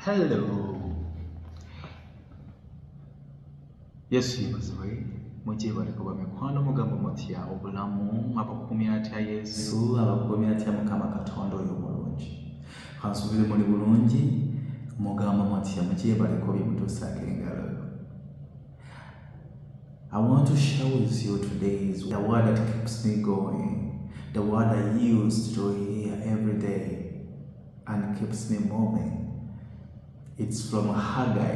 hello yesu yebazibwe mugyebale kuba mikwano mugambo mutya obulamu abakukumya atya yesu abakukumya atya mukama katonda oyo mulungi kansubire muli bulungi mugambo mutya mugyebale kuba bimutuusaako engalo I want to share with you today is the word that keeps me going, the word I use to hear every day. and keeps me moving. It's from Haggai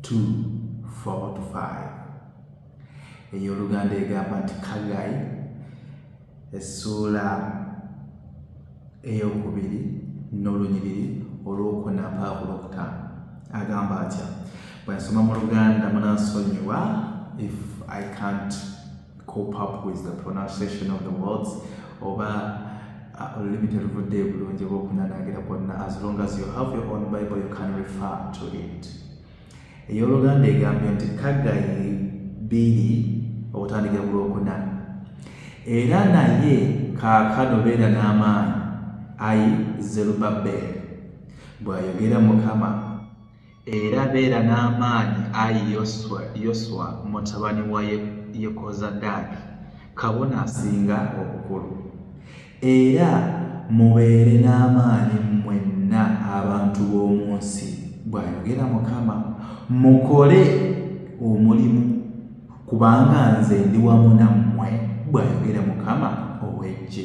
2 4 to 5. ey'oluganda egamba nti kagayi essuula eyokubiri n'olunyiriri olwokuna mpaavu lwokutaano agamba atya bwensoma mu luganda munansonyiwa if i can't cope up with the pronunciation of the words oba uh, olulimi teluvudde ebulungi oba okunanagira kwonna as long as you have your own bible you can refer to it eyoluganda egambye nti kagayi bbiri okutandikira ku lwokuna era naye kaakano beera n'amaanyi ayi zerubabeeri bw'ayogera mukama Era beera n'amaanyi, ayi Yoswa, Yoswa mutabani wa Yekozadaaki, kabona asinga obukulu. Era mubeere n'amaanyi mmwenna abantu b'omu nsi, bw'ayogera Mukama, mukole omulimu, kubanga nze ndi wamu nammwe, bw'ayogera Mukama ow'eggye.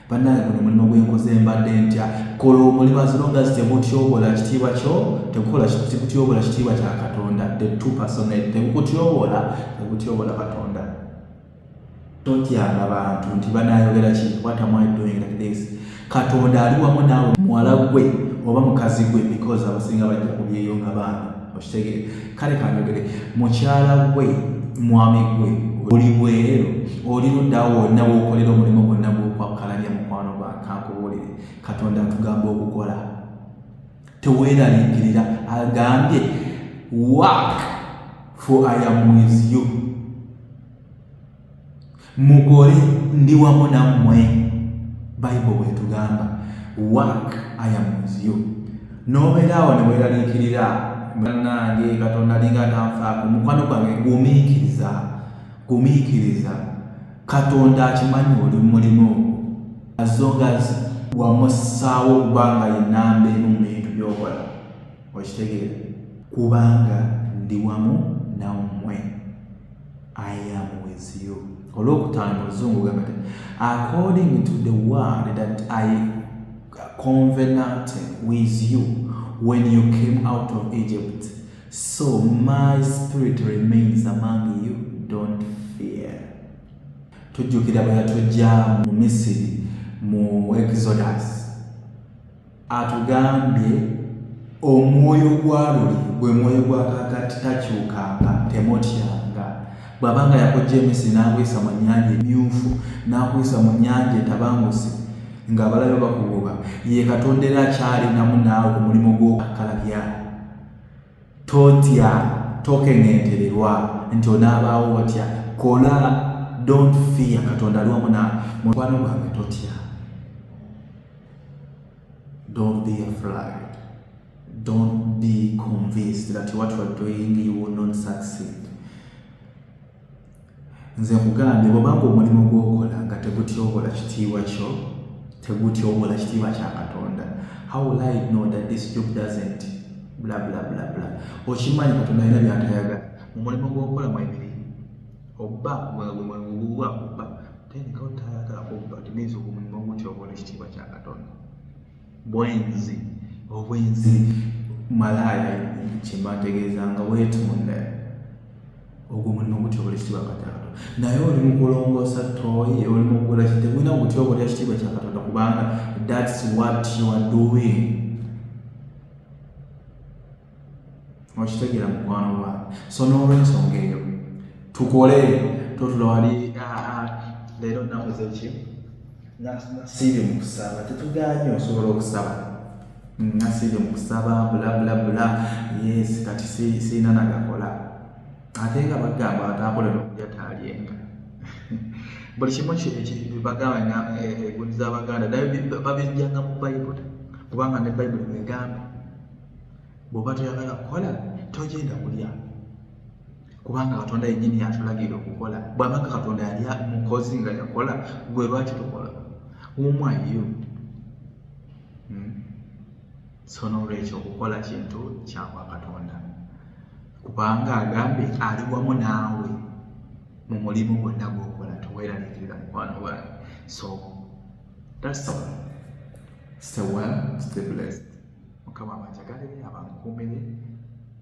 bannange guno mulimu gwenkoze mbadde ntya kola omulimu azilonga zitebutyobola kitiibwa kyo tekukola tekutyobola kitiibwa kya katonda the two personate tekukutyobola tekutyobola katonda totyanga bantu nti banayogera ki what am i doing like this katonda ali wamu naawe muwala gwe oba mukazi gwe because abasinga bajja kubyeyo nga baana okitegere kale kanjogere mukyala gwe mwami gwe oli bweru oli luddawo wonna wokolera omulimu gwonna gwokwakkalanya mukwano gwa kankubuulire katonda atugamba okukola teweeraliikirira agambye work for i am with you mukole ndi wamu nammwe bible bwetugamba work i am with you n'obeera awo ne weeraliikirira banange katonda alinga atanfaako mukwano gwange gumiikiriza gumiikiriza katonda akimanyi oli mulimu ogwo azongazi wamussaawo okubanga yenamba emu mu bintu byokola okitegeera kubanga ndi wamu nammwe I am with you. Olwokutaano oluzungu gamba nti according to the word that I covenanted with you when you came out of Egypt, so my spirit remains among you, don't fear. Tujjukira bwe yatujja mu Misiri mu Exodus Atugambye omwoyo gwa luli gwe mwoyo gwa kakati takyukanga temutyanga bwaba nga yakojja emisi nakuyisa mu nyanja emyufu nakuyisa mu nyanja etabangusi nga abalabe bakugoba ye katonda era akyalinamu naawe omulimu gwokakkalabya Totya, tokeŋentererwa nti onaabaawo watya. Kola, don't fear, Katonda ali wamu naawe. Mukwano gwange totya. Don't be afraid. Don't be convinced that what you are doing you will not succeed. Nze nkugambye bwobanga omulimu gwokola nga tegutyobola kitiibwa kyo tegutyobola kitiibwa kya katonda how will I know that this job doesn't bla bla bla bla okimanyi katonda alina byatayagala mu mulimu gwokola mwebiri obba gwegwegwegwegwa obba then katonda tayagala kubba it means omulimu gutyobola ekitiibwa kya katonda bwenzi obwenzi malaaya kyembategeeza nga weetunda ogwo mulimu gutya obula ekitiibwa katonda naye oli mukulongoosa tooyi oli mukugula kitemwina gutya obula ekitiibwa kya katonda kubanga thats what you are doing okitegera mukwano gwa so n'olwensonga eyo tukole totula wali leero nakozeki nasiibye mu kusaba tetuganye osobola okusaba mm, nasiibye mu kusaba bulabulabula yes kati siina nagakola ate nga bagamba atakolela okulya taalyenga buli kimu bagamba egundi eh, eh, zabaganda naye babijjanga mu bayibuli kubanga ne bayibuli mwegamba bw'oba toyagala kukola togenda kulya kubanga katonda yennyini yatulagira okukola bw'aba nga katonda yali mukozi nga yakola gwe lwaki tukola umwayo hmm? so n'olwekyo okukola kintu kyakwa katonda kubanga agambye ali wamu naawe mu mulimu gwonna gwokola toweraliikirira mukwano gwange so that's all stay well stay blessed mukama abanjagale abankuumire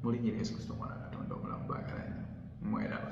mu linnya lya yesu kristo omwana wa katonda omulamu baagala nnyo mweraba